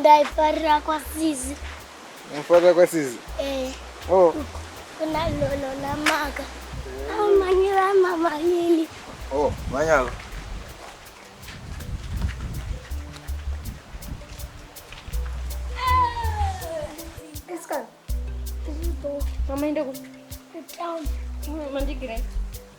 ndaifarira kwasizi unofarira kwasizi eh. oh. kuna lolo namaka amanyira mama lili oh, manyalo Mama, ini aku. Kau, mandi kira.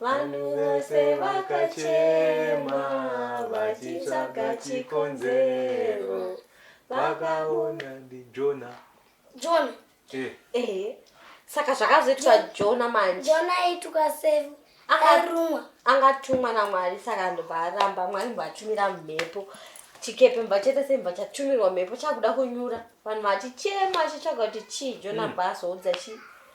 Vanhu vose vakachema vachitsvaga chikonzero vakaona ndijona jona eh. eh. saka zvakazoitwa jona manje jona aituka sevu akarumwa angatumwa namwari saka ndobva aramba mwari mboatumira mhepo chikepe mba chete semba chatumirwa mhepo chakuda kunyura vanhu vachichema chichitsvaga kuti chii jona mm. bhazoudza chii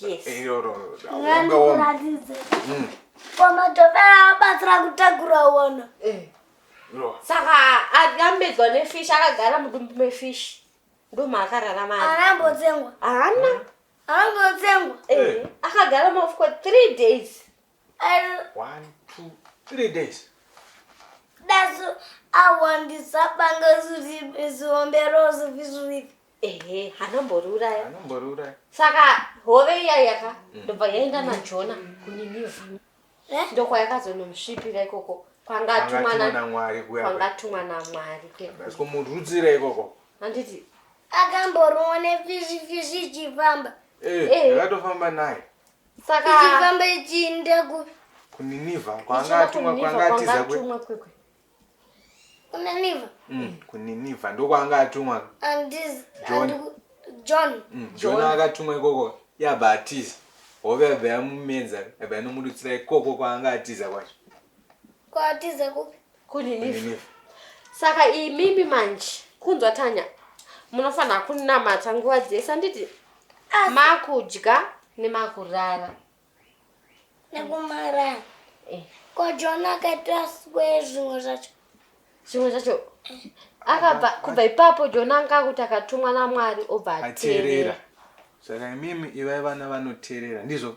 Yes. Eh, no, no, no. Wanga wam- nganikuratidze Mm. kwamatobera abatsira kutakura wona No. saka akambedzwa nefish akagara mudumbu mefish ndomaakararama ari arambotsengwa haana arambotsengwa Eh, akagara ma for three days One, two, three days. That's I want this up and go to the is on the rose of his with. Ehe, hanomboruraya. Hanomboruraya. Saka hove iya yaka mm. ndobva yaenda naJona mm. kuNineveh. Eh? Ndokwa yakazonomsvipira ikoko. Kwangatumwa naMwari kuya. Kwangatumwa naMwari ke. Basiko murudzira ikoko. Handiti akamborona fishi fishi chifamba. Eh, hey. Eh. akatofamba naye. saka ichifamba ichiinda ku kuniniva kwanga atumwa kwanga atiza kwe kuniniva mm kuniniva ndo kwanga atumwa and this john john mm, john akatumwa ikoko yabva atiza hove yabva yamumedza yabva yanomudutsira ikoko kwanga atiza kwacho Kwatiza kupi? Kuninive. Saka imimi manje kunzwa Tanya munofanira kunamata nguva dzese anditi makudya nemakurara. Nekumara. Eh. Ko John akaita swe zvimwe zvacho. Zvimwe zvacho akabva kubva ipapo John anga akuti akatumwa naMwari obva ateerera. Saka imimi ivai vana vanoteerera ndizvo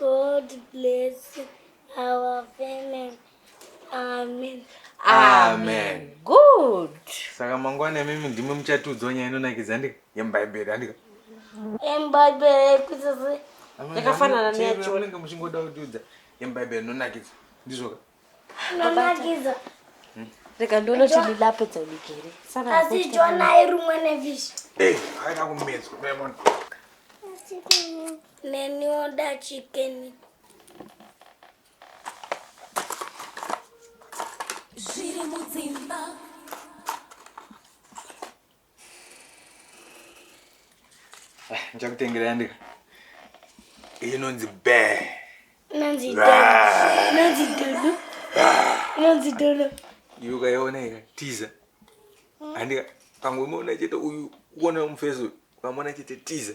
God bless our family. Amen. Amen. Good. Saka mangwana mimi ndimi muchatiudzawo nyaya inonakidza ndika yemubhaibheri andika yemubhaibheri yekusese yakafanana neyacho unenge muchingoda kutiudza yemubhaibheri inonakidza ndizvoka Mamagiza. Hmm? Rega ndono tini lape dza migere. Sana. Asi jona irumwe nevish. Eh, haina kumezo. Bemon. Neni oda chicken. Zviri mudzimba. ndichakutengera yandika inonzi be inonzi dodo inonzi dodo iyo ukaiona ika tiza andika pamwe umeona chete uyu uona mufeso ukamona chete tiza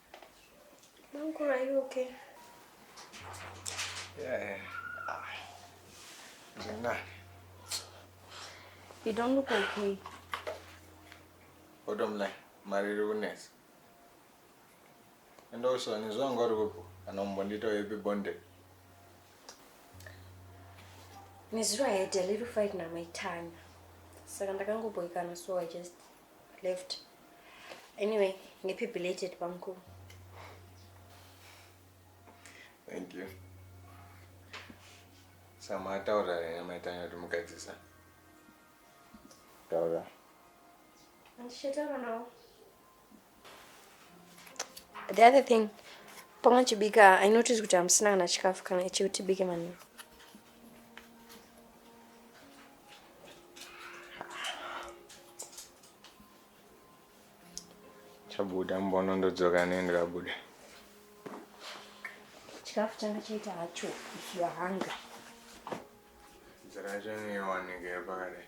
Mankuru, are you okay? Yeah. Ah. Jana. You don't look okay. Odomla, mariri kunetsa. Enda uswa nezvo anga uri kupo kana umbondita uyepi bonde. Nezuro I had a little fight na my Tanya. Saka ndakangoboikana so I just left anyway happy belated bamkuru thank you sama ataura here maitanya kuti mugadzisa taura handichataura nawo the other thing pamwe chibika i notice kuti hamusina kana chikafu kana chekutibike manheru chabuda mbono ndodzoka nendikabuda chikafu changa chaita hacho if you are hungry nzira yacho inoiwanike pakadai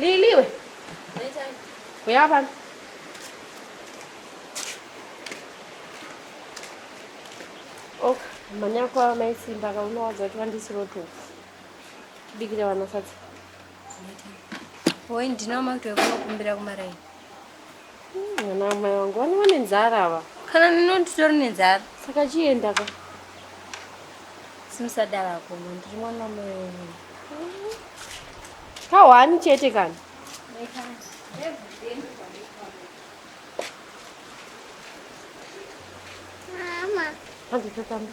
Liliwe. Uya pano. Ok, manyakwa maisimba kaunowadza kuti vandisirotofu. Bikira vana sadza. Woi ndinawo makuti wekunokumbira kumaraini. Mwana wamai wangu vane vane nzara ava. Kana ndinonditori nenzara. Saka chienda ka. Simusadara kuno ndiri mwana wamai wangu. Kawani chete kana. Mama. Hadi tatamba.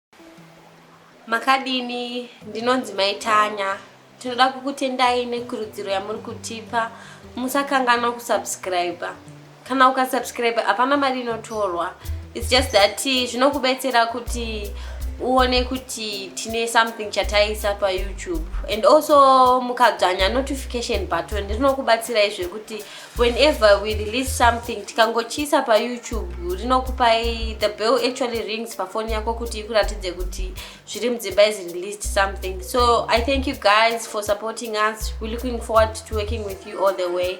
makadini ndinonzi mai tanya tinoda kukutendai nekurudziro yamuri kutipa musakanganwa kusubscribe kana ukasubscribe hapana mari inotorwa its just that zvinokubetsera kuti uone kuti tine something chataisa payoutube and also mukadzvanya notification button rinokubatsirai zvekuti whenever we release something tikangochiisa payoutube rinokupai the bell actually rings pafoni yako kuti ikuratidze kuti zviri mudzimba is released something so i thank you guys for supporting us we're looking forward to working with you all the way